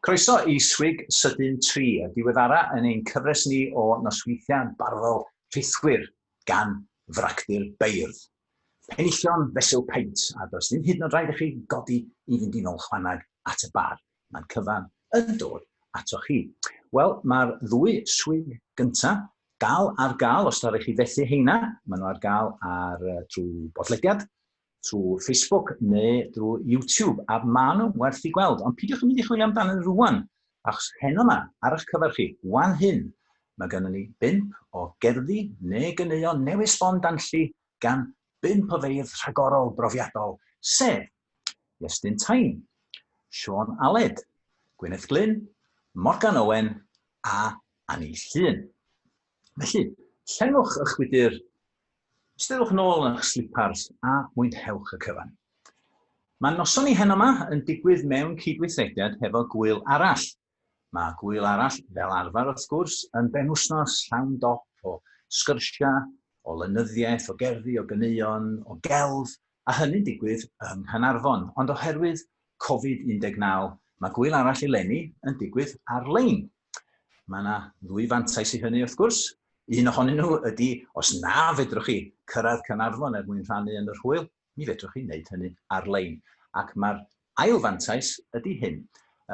Croeso i Swig Sydyn 3, y diweddara yn ein cyfres ni o nosweithiau barddol rhithwir gan fracdir beirdd. Penillion fesul paent, a does ddim hyd yn oed rhaid i chi godi i fynd i nôl chwanag at y bar. Mae'n cyfan yn dod atoch chi. Wel, mae'r ddwy swig gyntaf dal ar gael, os da rhaid chi fethu heina, maen nhw ar gael ar, trwy bodlediad, trwy Facebook neu drwy YouTube, a maen nhw'n werth i gweld. Ond pidiwch yn mynd i chwilio amdano rwan, achos heno yma, ar eich cyfer chi, wan hyn, Mae gennym ni bump o gerddi neu ganeuon newydd sbon danlli gan bump o feirdd rhagorol brofiadol, sef, Iestyn Tyne, Siôn Aled, Gwyneth Glyn, Morgan Owen a Anni Llŷn. Felly, llenwch ych gwydr, ystyddwch yn ôl yn eich slipars a mwynhewch y cyfan. Mae noson ni heno yma yn digwydd mewn cydweithrediad hefo gŵyl arall, Mae Gŵyl Arall, fel arfer wrth gwrs, yn benwythnos llawn dop o sgyrsiau, o lenyddiaeth, o gerddi, o ganeuon, o gelf, a hynny'n digwydd yng Nghanarfon, ond oherwydd Covid 19, mae Gŵyl Arall eleni yn digwydd ar-lein. Mae yna ddwy fantais i hynny wrth gwrs. Un ohonyn nhw ydy, os na fedrwch chi cyrraedd Canarfon er mwyn rhannu yn yr hwyl, Mi fedrwch chi wneud hynny ar-lein. Ac mae'r ail fantais ydy hyn,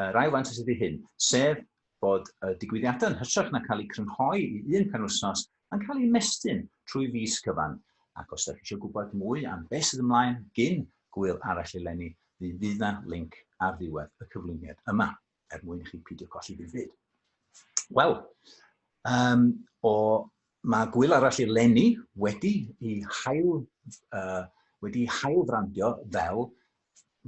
yr ail fantais ydy hyn, sef bod y digwyddiadau yn hytrach na cael eu crynhoi i un penwythnos yn cael eu mestyn trwy fis cyfan. Ac os ydych chi eisiau gwybod mwy am beth sydd ymlaen gin Gŵyl Arall eleni, mi fydd yna linc ar ddiwedd y cyflwyniad yma. er mwyn i chi pidio colli ddim byd. Wel, um, o, mae gwyl arall i'r lenni wedi i hael, uh, wedi i hael frandio fel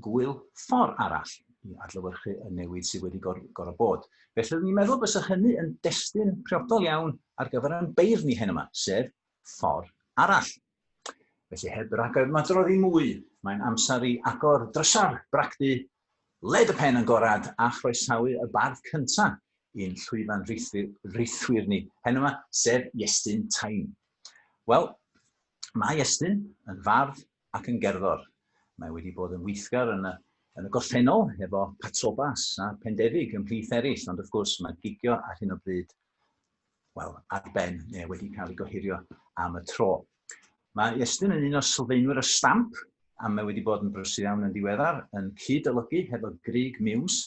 gwyl ffordd arall i adlywyrchu y newid sydd wedi gor gorau bod. Felly, ni'n meddwl bys hynny yn destun priodol iawn ar gyfer ein beirdd ni hen yma, sef ffordd arall. Felly heb ragymadrodd i mwy, mae'n amser i agor drysau'r bragdy, led y pen agored a chroesawu y bardd cynta i'n llwyfan rithwir ni hen yma, sef Iestyn Taim. Wel, mae Iestyn yn fardd ac yn gerddor. Mae wedi bod yn weithgar yn y yn y gorffennol efo Patrobas a Pendefig ymhlith eraill, ond wrth gwrs mae gigio ar hyn o bryd wel, ar ben neu wedi cael ei gohirio am y tro. Mae Iestyn yn un o sylfaenwyr y stamp, a mae wedi bod yn brysur iawn yn ddiweddar, yn cyd-olygu hefo Grig Miws,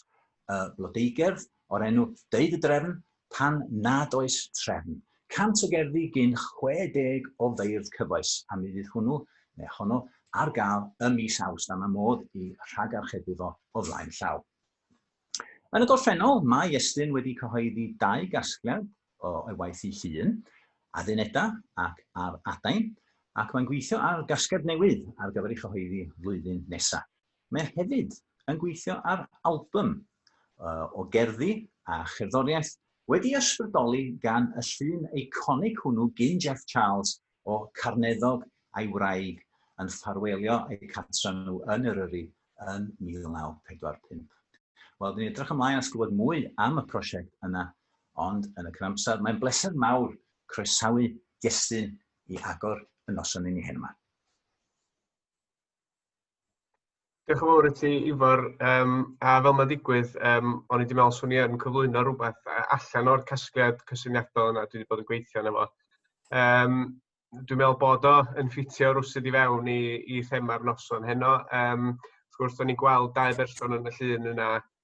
y blodeugerdd o'r enw Deud y Drefn pan nad oes trefn. Cant o gerddi gyn 60 o feirdd cyfoes, a mi fydd hwnnw, neu honno, ar gael ym mis Awst, a mae modd i rhagarchebu fo o flaen llaw. Yn y gorffennol, mae Estyn wedi cyhoeddi dau gasgliad o'i waith ei hun, Addunedau ac Ar Adain, ac mae'n gweithio ar gasgliad newydd ar gyfer ei chyhoeddi flwyddyn nesaf. Mae hefyd yn gweithio ar albym o gerddi a cherddoriaeth wedi ysbrydoli gan y llun eiconig hwnnw gin Jeff Charles O Carneddog a'i wraig yn ffarwelio eu cartra nhw yn Eryri yn 1945. Wel, dyn ni'n edrych ymlaen at glywed mwy am y prosiect yna, ond yn y cynamser, mae'n bleser mawr croesawu Jestyn i agor y noson i ni heno 'ma. Diolch yn fawr i ti Ifor um, a fel mae'n digwydd, um, o'n i wedi meddwl swn i yn cyflwyno rhywbeth allan o'r casgliad cysyniadol yna dwi wedi bod yn gweithio yna fo. Um, dwi'n meddwl bod o yn ffitio rwsyd i fewn i, i thema'r noson heno. Um, wrth gwrs, o'n i'n gweld dau berson yn y llun yna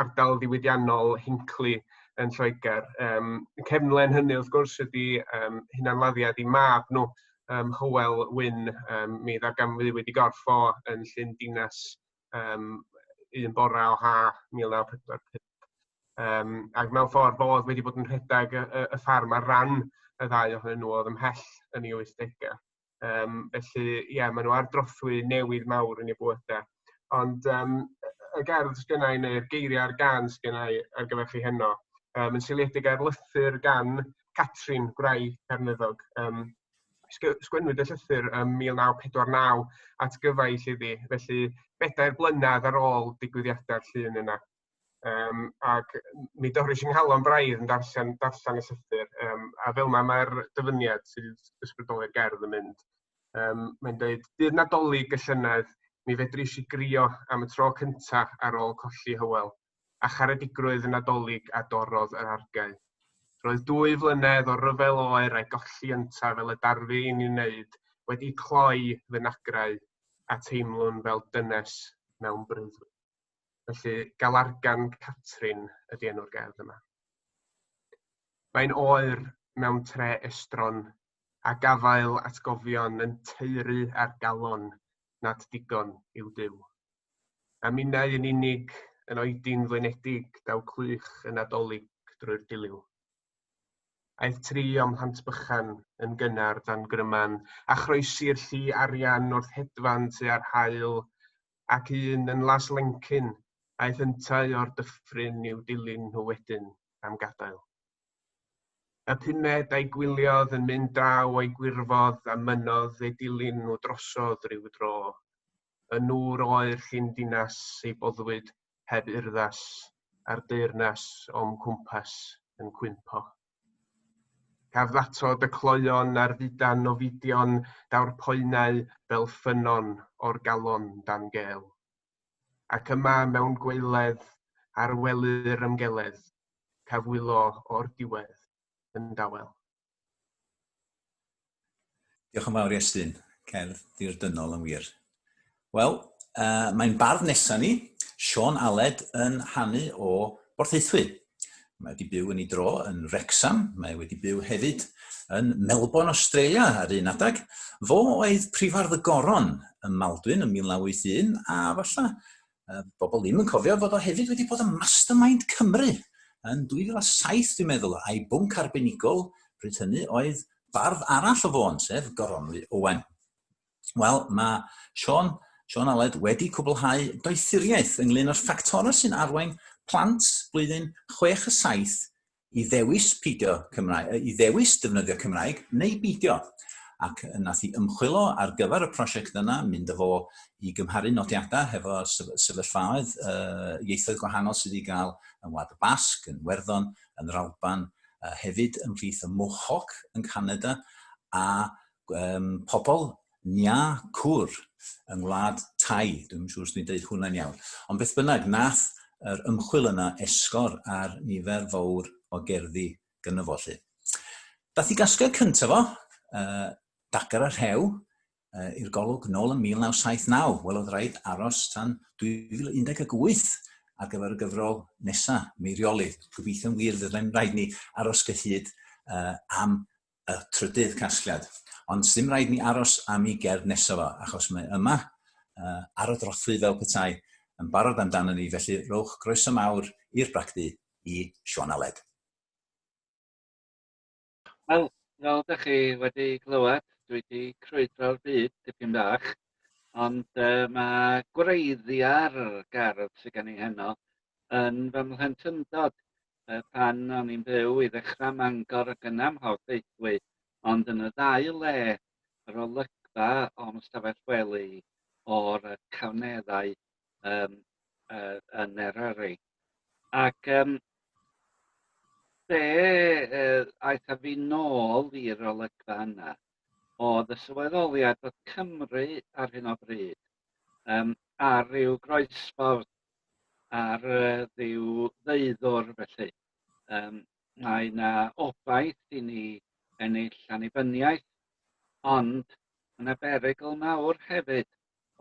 ardal ddiwydiannol Hinckley yn Lloegr. Um, cefnlen hynny wrth gwrs ydy um, hunanladdiad i mab nhw, um, Hywel Wyn, um, mi ddarganfyddiwyd i gorff o yn llyn dinas um, un bora o ha 1945. Um, ac mewn ffordd bod wedi bod yn rhedeg y, y, y ffarm ar ran y ddau ohonyn nhw oedd ymhell yn ei 80au. Um, felly, ie, yeah, maen nhw ar drothwy newydd mawr yn ei bwydau. Ond um, y gerdd sgynnau neu'r geiriau ar gan sgynnau ar gyfer chi heno, um, yn seiliedig ar lythyr gan Catrin Gwrai Cernyddog. Um, sgwennwyd y llythyr ym 1949 at gyfaill iddi, felly bedair blynedd ar ôl digwyddiadau'r llun yna. Um, ac mi dorys i nghalon braidd yn darllen, darllen y llythyr. Um, a fel yma mae'r dyfyniad sydd ysbrydoli'r gerdd yn mynd. Um, mae'n dweud, dydd nadolig y llynedd, mi fedri i grio am y tro cyntaf ar ôl colli hywel, a charedigrwydd y nadolig a dorodd yr argau. Roedd dwy flynedd o ryfel oer a'i golli ynta fel y darfu i'n ei wneud wedi cloi fy nagrau a teimlwn fel dynes mewn breuddwyd. Felly, Galargan Catrin ydy enw'r gerdd yma. Mae'n oer mewn tre estron a gafael atgofion yn teuru ar galon nad digon i'w dyw. A minnau yn unig yn oedi'n flinedig daw clych y Nadolig drwy'r diliw. Aeth tri o'm mhlant bychan yn gynnar dan gryman, a chroesi'r llu arian wrth hedfan tua'r haul, ac un yn Las Lencyn, aeth yntau o'r dyffryn i'w dilyn nhw wedyn am gadael. Y pumed a'i gwyliodd yn mynd draw o'i gwirfodd a mynnodd ei dilyn nhw drosodd rhyw dro. Y nŵr oer llun dinas ei boddwyd heb urddas a'r deyrnas o'm cwmpas yn cwympo. Caf ddatod y cloeon ar ddudan o fidion, daw'r poenau fel ffynnon o'r galon dan gel. Ac yma mewn gwaeledd, ar wely'r ymgeledd, caf wylo o'r diwedd yn dawel. Diolch yn fawr i Estyn. Cerdd ddirdynol yn wir. Wel, uh, mae'n bardd nesaf ni, Sean Aled, yn hanu o Borthaethwy. Mae wedi byw yn ei dro yn Wrexham, mae wedi byw hefyd yn Melbourne, Australia ar un adeg. Fo oedd prifardd y Goron ym Maldwyn yn 1981 a falle uh, bobl ddim yn cofio fod o hefyd wedi bod yn Mastermind Cymru yn 2007 dwi'n meddwl, a'i bwnc arbenigol pryd hynny oedd bardd arall o fôn, sef Goronwy Owen. Wel, mae Sean, Sean Aled wedi cwblhau doethuriaeth ynglyn â'r ffactorau sy'n arwain plant blwyddyn 6 a 7 i ddewis peidio Cymraeg, i ddewis defnyddio Cymraeg neu beidio. Ac nath i ymchwilo ar gyfer y prosiect yna, mynd â fo i gymharu nodiadau hefo sefyllfaoedd uh, ieithoedd gwahanol sydd wedi cael yn Wlad y Basg, yn Werddon, yn yr Alban, uh, hefyd ymhlith y Mohawk yn Canada, a um, pobl Nya Cwr yng ngwlad Thai, dwi'm yn siŵr os dwi'n deud hwnna'n iawn. Ond beth bynnag, nath yr ymchwil yna esgor ar nifer fawr o gerddi gynno fo 'lly. Dath i gasgliad cyntaf o, uh, Dagar a Rhew, uh, i'r golwg nôl yn 1979. Wel, oedd rhaid aros tan 2018 ar gyfer y gyfrol nesa, Meirioli. Gobeithio'n wir fydda'n rhaid ni aros gyhyd uh, am y trydydd casgliad. Ond ddim rhaid ni aros am i gerdd nesaf o, achos mae yma uh, ar y drothwy fel petai yn barod amdano ni, felly rowch groeso mawr i'r bragdy i Siôn Aled. Wel, fel ydych chi wedi clywed, dwi wedi crwydro'r byd tipyn bach, ond uh, mae gwreiddiau'r gardd sydd gen i heno yn fy mhlentyndod yy pan o'n i'n byw i ddechrau Mangor ac yna ym Mhort Deithwy, ond yn y ddau le, yr olygfa o'm ystafell wely o'r yy cawnneddau um, uh, yn Eryri. Ac um, be uh, aeth a fi nôl i'r olygfa yna, oedd y sylweddoliad bod Cymru ar hyn o bryd um, ar ryw groesffordd ar ryw ddeuddwr felly. Um, mae yna obaith i ni ennill annibyniaeth, ond mae yna berygl mawr hefyd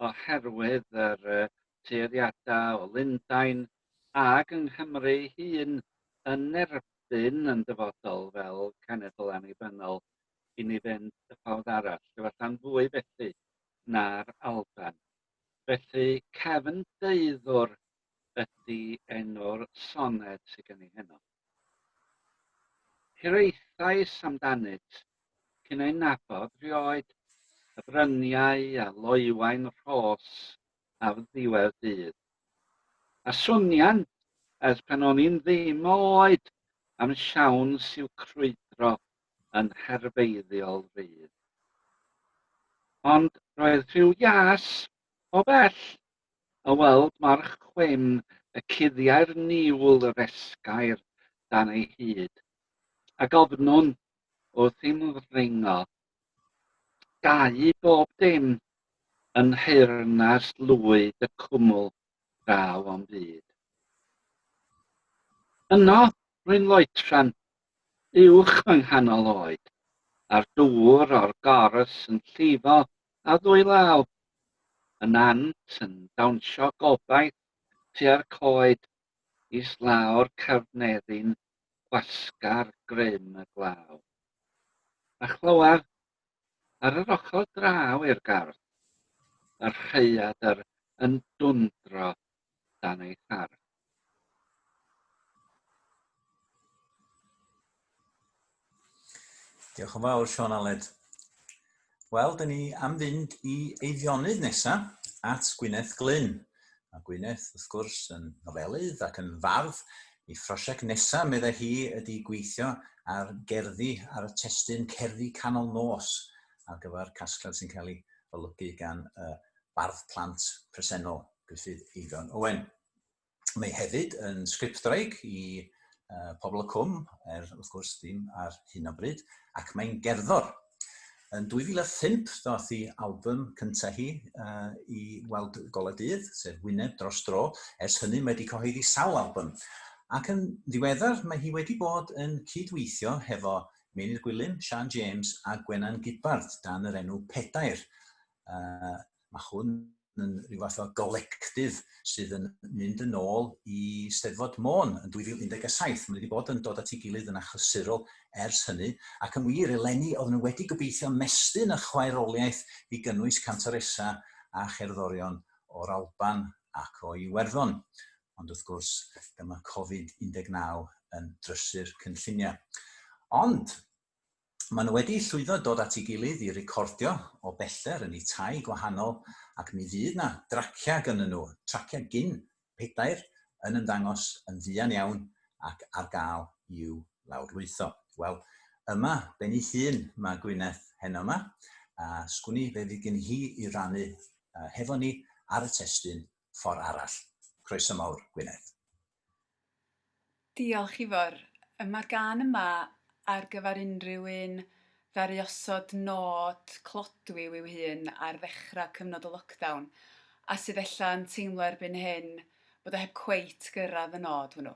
oherwydd yr uh, tueddiadau o Lundain ag yng Nghymru hun yn erbyn yn dyfodol fel cenedl annibynnol i ni fynd y ffordd arall, efallai'n fwy felly na'r Alban. Felly Cefn Deuddwr ydi enw'r soned sy gen i heno. Hiraethais amdanynt cyn eu nabod rioed, y bryniau a loewain rhos ar ddiwedd dydd. A swnïan ers pan o'n i'n ddim o oed am siawns i'w crwydro yn herfeiddiol rydd. Ond roedd rhyw ias o bell a weld march chwyn y cuddiau'r niwl yr esgair dan ei hyd, a gofnwn wrth i'm ddringo. Gau bob dim yn nheyrnas lwyd y cwmwl draw o'm byd. Yno, rwy'n loetran, uwch fy nghanol oed, a'r dŵr o'r gors yn llifo a ddwy law, y nant yn dawnsio gobaith tua'r coed, islaw'r carneddi'n gwasgar grym y glaw. A chlywaf Ar yr ochr draw i'r gardd, mae'r rhaeadr yn dwndro dan ei thar. Diolch yn fawr, Sean Aled. Wel, dyn ni am fynd i eiddionudd nesaf at Gwyneth Glyn. A Gwyneth, wrth gwrs, yn nofelydd ac yn fardd, ei phrosiect nesaf, meddai hi, ydy gweithio ar gerddi ar y testun Cerddi Canol Nos ar gyfer casgliad sy'n cael ei olygu gan y bardd plant presennol, Gruffydd Eifion Owen. Mae hefyd yn sgriptwraig i uh, Pobl y Cwm, er wrth gwrs ddim ar hyn o bryd, ac mae'n gerddor. Yn 2005, ddoth i album cyntaf hi uh, i weld golau dydd, sef Wyneb dros dro. Ers hynny, mae wedi cyhoeddi sawl album. Ac yn ddiweddar, mae hi wedi bod yn cydweithio hefo Meinydd Gwilym, Sian James a Gwenan Gidbarth dan yr enw Pedair. Uh, mae hwn yn rhyw fath o golectif sydd yn mynd yn ôl i Steddfod Môn yn 2017. Mae wedi bod yn dod at ei gilydd yn achlysurol ers hynny, ac yn wir, eleni, oedd nhw wedi gobeithio mestyn a chwaeroliaeth i gynnwys cantoresa a cherddorion o'r Alban ac o Iwerddon. Ond wrth gwrs, dyma Covid-19 yn drysu'r cynlluniau. Ond, Maen nhw wedi llwyddo dod at ei gilydd i recordio o bellter yn eu tai gwahanol ac mi fydd na draciau gynnyn nhw, traciau gin pedair, yn ymddangos yn fuan iawn ac ar gael i'w lawrlwytho. Wel, yma, ben ei hun, mae Gwyneth heno yma, a sgwni fe fydd gen hi i rannu hefo ni ar y testun ffordd arall. Croeso mawr, Gwyneth. Diolch Ifor. Yy ma'r gân yma ar gyfar unrhyw un ddaru osod nod clodwiw i'w hun ar ddechra cyfnod y lockdown a sydd ella yn teimlo erbyn hyn bod o heb cweit gyrradd y nod hwnnw.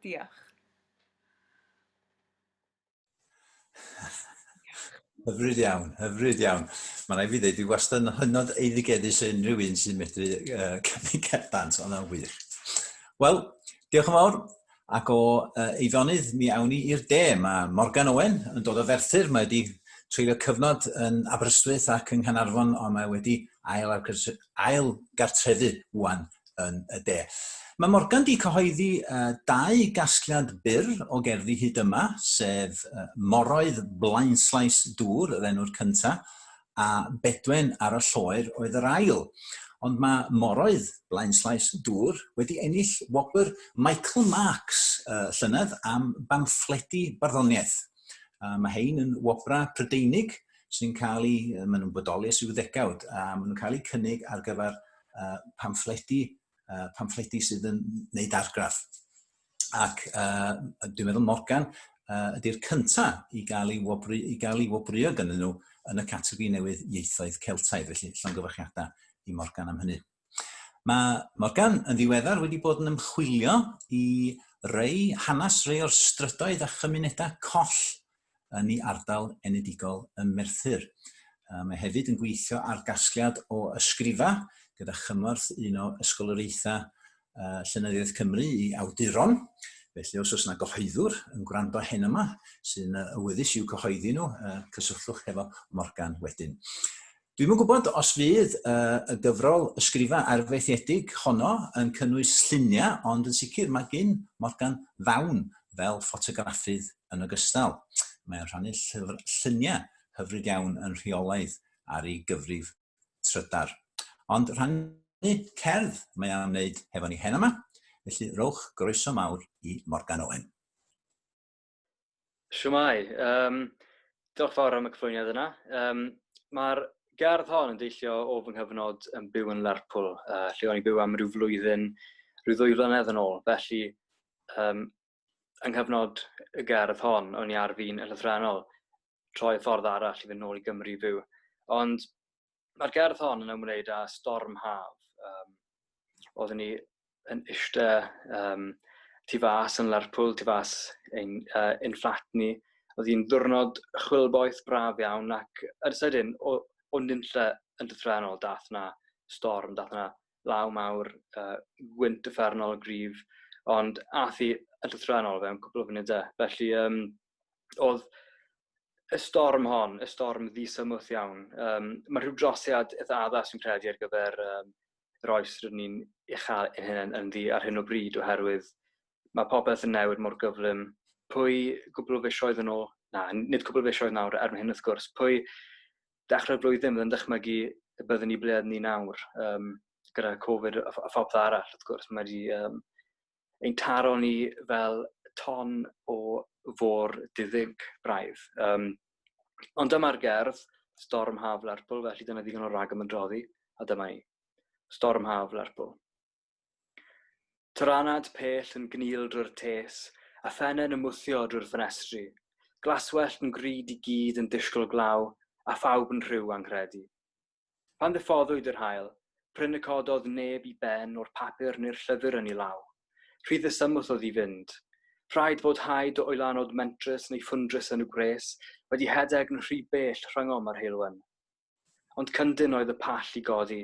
Diolch. Hyfryd iawn, hyfryd iawn. Mae'n rhaid fi ddweud, dwi wastad yn hynod eiddigeddus o unrhyw un sy'n medru uh, cymryd cerdant, ond yn wir. Wel, diolch yn fawr. Ac o uh, Eifionydd, mi awn ni i'r de. Mae Morgan Owen yn dod o Ferthyr. Mae wedi treulio cyfnod yn Aberystwyth ac yng Nghanarfon, ond mae wedi ail, ail gartrefu wan yn y de. Mae Morgan di cyhoeddi uh, dau gasgliad byr o gerddi hyd yma, sef uh, Moroedd Blaenslais Dŵr, yr enw'r cynta, a Bedwen ar y Lloer oedd yr ail. Ond mae Moroedd Blaenslais Dŵr wedi ennill wobr Michael Marks uh, llynedd am bamffledi barddoniaeth. Uh, mae hein yn wobrau Prydeinig sy'n cael ei, maen nhw'n bodoli ers i'w ddegawd, a maen nhw'n cael eu cynnig ar gyfer uh, pamffledi, uh, pamffledi sydd yn wneud argraff. Ac uh, dwi'n meddwl Morgan uh, ydy'r cyntaf i gael ei wobru, i gael ei wobru ag ynyn nhw yn y categori newydd ieithoedd Celtaidd, felly llongyfarchiadau i Morgan am hynny. Mae Morgan yn ddiweddar wedi bod yn ymchwilio i rei hanes rei o'r strydoedd a chymunedau coll yn ei ardal enedigol ym Merthyr. Mae hefyd yn gweithio ar gasgliad o ysgrifa gyda chymorth un o ysgoloriaethau Llenyddiaeth Cymru i awduron. Felly os oes yna gyhoeddwr yn gwrando hen yma sy'n awyddus i'w cyhoeddi nhw, cysylltwch hefo Morgan wedyn. Dwi'm yn gwybod os fydd uh, y gyfrol ysgrifa arfaethiedig honno yn cynnwys lluniau, ond yn sicr mae gyn Morgan ddawn fel ffotograffydd yn ogystal. Mae'n rhannu llyfr, lluniau hyfryd iawn yn rheolaidd ar ei gyfrif trydar. Ond rhannu cerdd mae am wneud hefo ni hen yma, felly rowch groeso mawr i Morgan Owen. Shwmae, um, diolch fawr am y cyflwyniad yna. Um, Mae'r gardd hon yn deillio o fy nghyfnod yn byw yn Lerpwl, uh, lle o'n i'n byw am rhyw flwyddyn, rhyw ddwy flynedd yn ôl. Felly, um, yng nghyfnod y gardd hon, o'n i ar fi'n y llythrenol, troi ffordd arall i fynd nôl i Gymru fyw. Ond Mae'r gerdd hon yn ymwneud â storm haf. Um, oeddwn ni yn eistedd um, tu fas yn Lerpwl, tu fas ein, uh, ein fflat ni. Oedd hi'n ddwrnod chwilboeth braf iawn ac yn sydyn o, o nynlle yn dythre'n ôl dath na storm, dath na law mawr, uh, gwynt y ffernol grif, ond ath i yn dythre'n ôl fe yn cwbl o funudau. Felly, um, oedd y storm hon, y storm ddisymwth iawn. Um, mae rhyw drosiad eitha addas yn credu ar gyfer um, yr oes rydyn ni'n ei chael yn hyn yn ddi ar hyn o bryd oherwydd mae popeth yn newid mor gyflym. Pwy gwbl o fisioedd yn ôl, na, nid cwbl o fisioedd nawr er hyn wrth gwrs, pwy dechrau'r flwyddyn bydd yn dychmygu y byddwn ni blead ni nawr um, gyda Covid a, a phopeth arall wrth gwrs. Mae wedi um, ein taro ni fel ton o fôr diddig braidd. Um, ond dyma'r gerdd, storm haf Lerpwl, felly dyna ddigon o rag ymdroddi, a dyma ni. Storm haf Lerpwl. Tyranad pell yn gnil drwy'r tes, a phennau yn ymwthio drwy'r ffenestri. Glaswellt yn grid i gyd yn disgwyl glaw, a phawb yn rhyw anghredu. Pan ddiffoddwyd yr haul, prin y cododd neb i ben o'r papur neu'r llyfr yn ei law. Rhy ddisymwth oedd i fynd. Rhaid fod rhai do oelanod mentrus neu ffwndrus yn y gwres wedi hedeg yn rhy bell rhyngom a'r heulwen. Ond cyndyn oedd y pall i godi.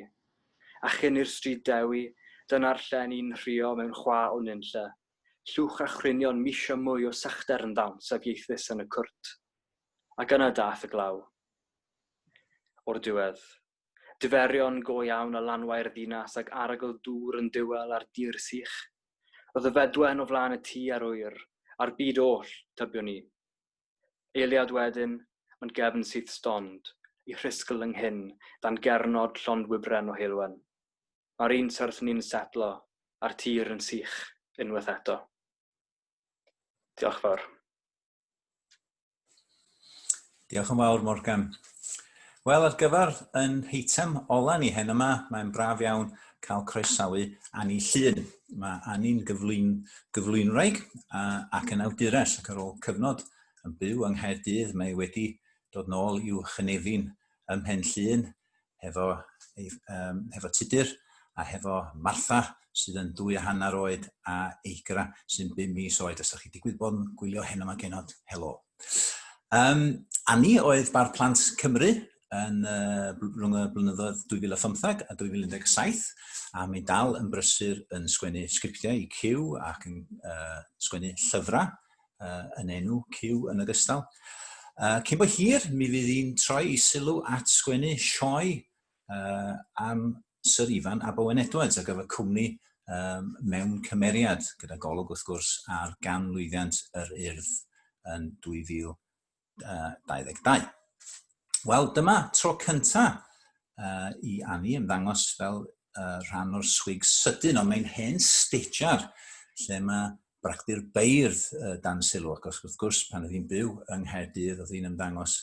A chyn i'r Stryd Dewi, dyna'r lle ni'n nhrio mewn chwa o nunlle. Llwch a chwynion misio mwy o sychder yn ddawns a fieithus yn y cwrt. Ac yna daeth y glaw. O'r diwedd. Diferion go iawn a lanwau'r ddinas ag arogl dŵr yn duel ar dir sych. Roedd y fedwen o flaen y tŷ a'r ŵyr, a'r byd oll, tybiwn i. Eiliad wedyn, ond gefn syth stond, i rhisgl yng nghyn dan gernod llond wybren o heulwen. Mae'r un syrth ni'n setlo, a'r tir yn sych, unwaith eto. Diolch fawr. Diolch yn fawr, Morgan. Wel, ar gyfer yn heitem ola ni hen yma, mae'n braf iawn cael croesawu Annie Llun. Mae Annie'n gyflwyn, gyflwynwraig ac yn awdures ac ar ôl cyfnod yn byw yng Nghaerdydd mae wedi dod nôl i'w chynefin ym Mhen Llun hefo, ei, um, hefo Tudur a hefo Martha sydd yn dwy a hanner oed a Eigra sy'n bum mis oed. Os ydych chi digwydd bod yn gwylio hyn yma genod, helo. Um, a ni oedd Bardd Plant Cymru yn uh, rhwng y blynyddoedd 2015 a 2017 a mi dal yn brysur yn sgwennu sgriptiau i Q ac yn uh, sgwennu llyfrau uh, yn enw Cyw yn ogystal. Uh, cyn bod hir, mi fydd hi'n troi i sylw at sgwennu sioe uh, am Sir Ifan a Bowen Edwards a gyfer cwmni um, mewn cymeriad, gyda golwg wrth gwrs ar ganlwyddiant yr urdd yn 2000. 2022. Wel, dyma tro cynta uh, i Annie ymddangos fel uh, rhan o'r swig sydyn, ond mae'n hen stediar lle mae bragdy'r beirdd uh, dan sylw, ac os wrth gwrs pan oedd hi'n byw yng Nghaerdydd oedd hi'n ymddangos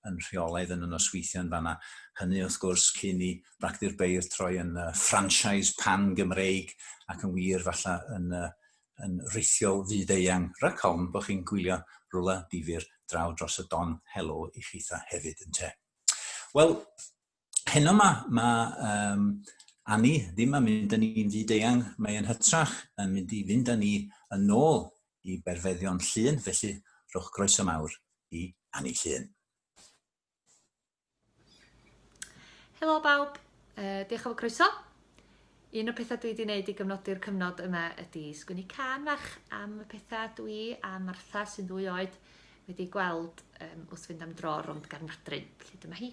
yn rheolaidd yn y nosweithiau yn fanna. Hynny wrth gwrs cyn i bragdy'r beirdd troi yn uh, franchise pan-Gymreig ac yn wir falle yn uh, yn rithiol fyd-eang, rhag ofn bod chi'n gwylio rywle difyr draw dros y don, helo i chitha hefyd yn te. Wel, heno yma, mae um, Anni ddim yn mynd yn ni'n fyd-eang, mae yn hytrach yn mynd i fynd yn ni yn ôl i berfeddion llun, felly rhowch groeso mawr i Anni Llun. Helo bawb, uh, diolch am y croeso. Un o'r pethau dwi wedi wneud i gyfnodi'r cyfnod yma ydy sgwini can fach am y pethau dwi a Martha sy'n ddwy oed wedi gweld um, wrth fynd am dro rond Garnadrin. Felly dyma hi.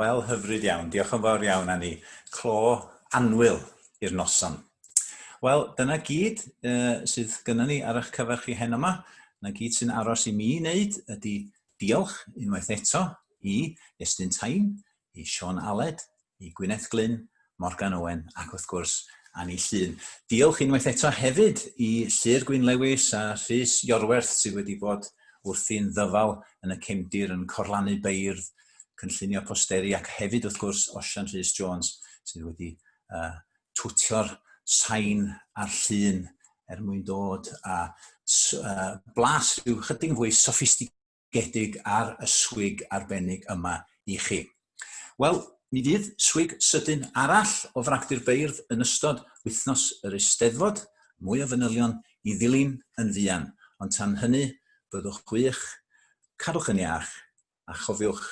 Wel, hyfryd iawn. Diolch yn fawr iawn, Anni. Clo anwyl i'r noson. Wel, dyna gyd uh, sydd gyda ni ar eich cyfer chi hen yma. Dyna gyd sy'n aros i mi wneud ydy Diolch unwaith eto i Estyn Tyne, i Siôn Aled, i Gwyneth Glyn, Morgan Owen ac wrth gwrs Anni Llŷn. Diolch unwaith eto hefyd i Llŷr Gwyn Lewis a Rhys Iorwerth sydd wedi bod wrthi'n ddyfal yn y cefndir yn corlanu beirdd, cynllunio posteri ac hefyd wrth gwrs Osian Rhys Jones sydd wedi uh, twtio'r sain a'r llun er mwyn dod a uh, blas rhyw chydig yn fwy soffistigedig ar y swig arbennig yma i chi. Wel, mi fydd swig sydyn arall o fragdy'r beirdd yn ystod wythnos yr Eisteddfod, mwy o fanylion i ddilyn yn fuan, ond tan hynny, byddwch wych, cadwch yn iach, a chofiwch,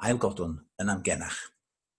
ailgodwn yn amgenach.